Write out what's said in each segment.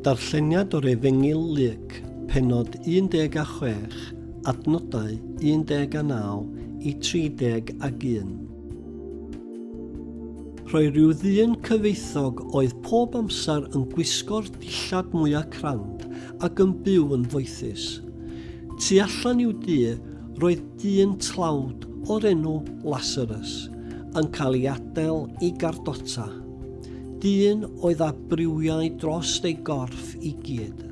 Darlleniad o'r Efengyl Luc, pennod 16, adnodau 19 i 31. Rhoi rhyw ddyn cyfoethog oedd pob amser yn gwisgo'r dillad mwyaf crand ac yn byw yn foethus. Tu allan i'w du, roedd dyn tlawd o'r enw Lasarus yn cael ei adael i gardota. Dyn oedd â briwiau dros ei gorff i gyd.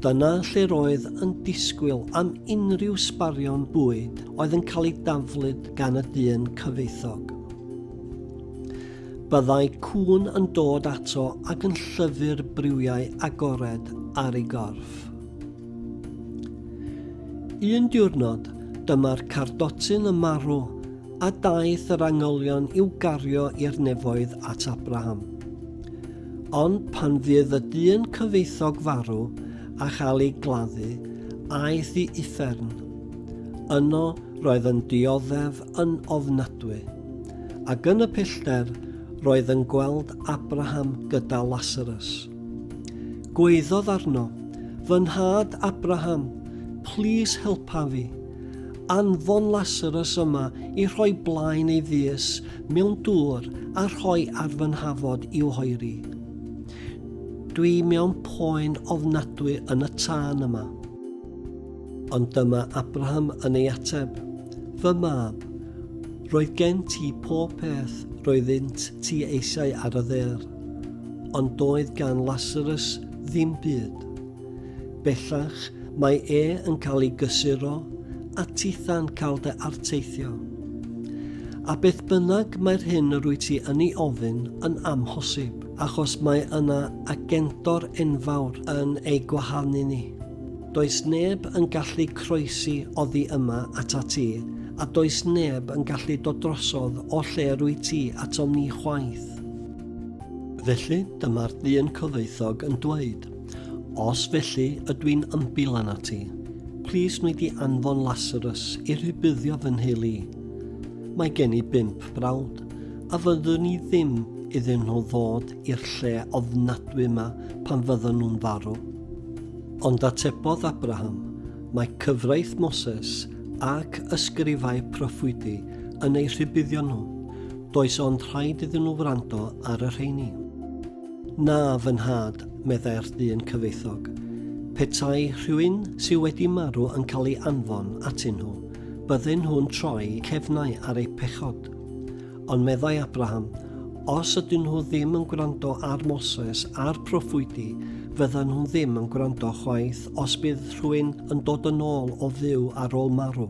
Dyna lle'r oedd yn disgwyl am unrhyw sbarion bwyd oedd yn cael ei daflud gan y dyn cyfoethog. Byddai cŵn yn dod ato ac yn llyfu'r briwiau agored ar ei gorff. Un diwrnod, dyma'r cardotyn yn marw a daeth yr angylion i'w gario i'r nefoedd at Abraham. Ond pan fydd y dyn cyfeithog farw a chael ei gladdu, aeth i uffern. Yno roedd yn dioddef yn ofnadwy, ac yn y pellter roedd yn gweld Abraham gyda Lasarus. Gweiddodd arno, Fy nhad Abraham, plis helpa fi. Anfon Lasarus yma i rhoi blaen ei ddys mewn dŵr a rhoi ar fy nhafod i'w hoeri. Dwi mewn poen ofnadwy yn y tân yma. Ond dyma Abraham yn ei ateb, Fy mab, roedd gen ti pob peth roeddynt ti eisiau ar y ddear, ond doedd gan Lasarus ddim byd. Bellach, mae e yn cael ei gysuro â titha'n cael dy arteithio. A beth bynnag mae'r hyn yr wyt ti yn ei ofyn yn amhosib, achos mae yna agentor enfawr yn ei gwahanu ni. Does neb yn gallu croesi oddi yma ata ti, a does neb yn gallu dod drosodd o lle yr wyt ti atom ni chwaith. Felly, dyma'r dyn cyfoethog yn dweud, Os felly ydw i'n ymbil arnat ti, plis wnei di anfon Lasarus i rhybuddio fy nheulu i. Mae gen i bump brawd, a fyddwn i ddim iddyn nhw ddod i'r lle ofnadwy yma pan fyddan nhw'n farw. Ond atebodd Abraham, Mae cyfraith Moses ac ysgrifau proffwydi yn eu rhybuddio nhw, does ond rhaid iddyn nhw wrando ar y rheini. Na, fy nhad, meddai'r dyn cyfoethog. Petai rhywun sydd wedi marw yn cael ei anfon atyn nhw, bydden nhw'n troi cefnau ar eu pechod. Ond meddai Abraham, os ydyn nhw ddim yn gwrando ar Moses a'r proffwydi, fyddan nhw ddim yn gwrando chwaith os bydd rhywun yn dod yn ôl o fyw ar ôl marw.